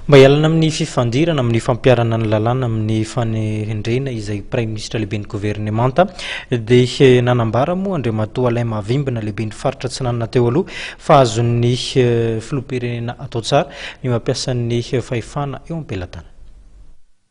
Mba hialana amin'ny fifandirana amin'ny fampiharana ny lalàna amin'ny fanendrena izay Praiminisitra lehiben'ny governemanta dia nanambara moa Andriamatoa Alain Mahavimbina lehiben'ny faritra Atsinanana teo aloha fa azon'ny Filoham-pirenena atao tsara ny mampiasa ny fahefana eo am-pelatanana.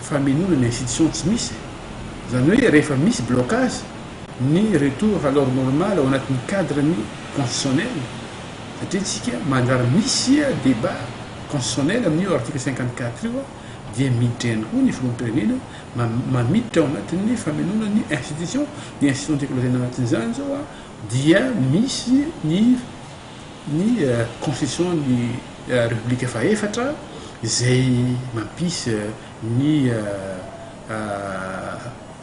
famenoana ny institution tsy misy e! Zany hoe rehefa misy blocage ny retour à l'ordre normal ao anatin'ny cadre ny constitutionnel satria tsika mandrara misy debat constitutionnel amin'io article cinquante quatre io dia miditra ihany koa ny filoham-pirenena mamiditra ao anatin'ny famenoana ny institution ny institution tiako lazaina anatin'izany zao dia misy ny ny Constitution ny Repoblika fahefatra izay mampisy ny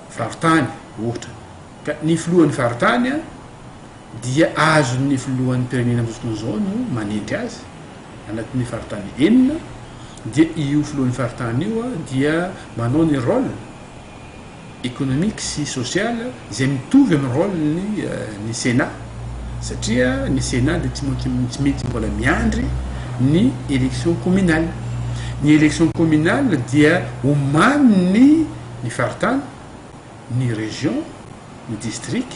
Faritany ohatra ka ny Filohan'ny Faritany dia azon'ny Filohan'ny Mpirenena amin'izao fotoana izao no manendry azy anatin'ny Faritany enina dia io Filohan'ny Faritany io dia manao ny rôle économique sy social izay mitovy amin'ny rôle ny ny Sénat satria ny Sénat dia tsy maintsy tsy maintsy mbola miandry ny élection communale. Ny élection communale dia omanin'ny ny faritany, ny région, ny district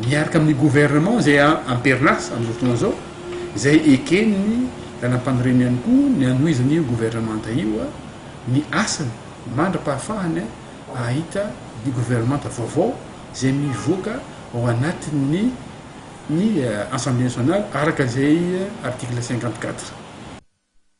miaraka amin'ny gouvernement izay am-perinasa amin'izao fotoana izao izay eken'ny Lalàmpanorenana ihany koa ny hanohizana io gouvernementa io ny asany mandra-pahafahany hahita ny governemanta vaovao izay mivoaka ao anatin'ny ny Assemblée nationale araka izay article cinquante quatre.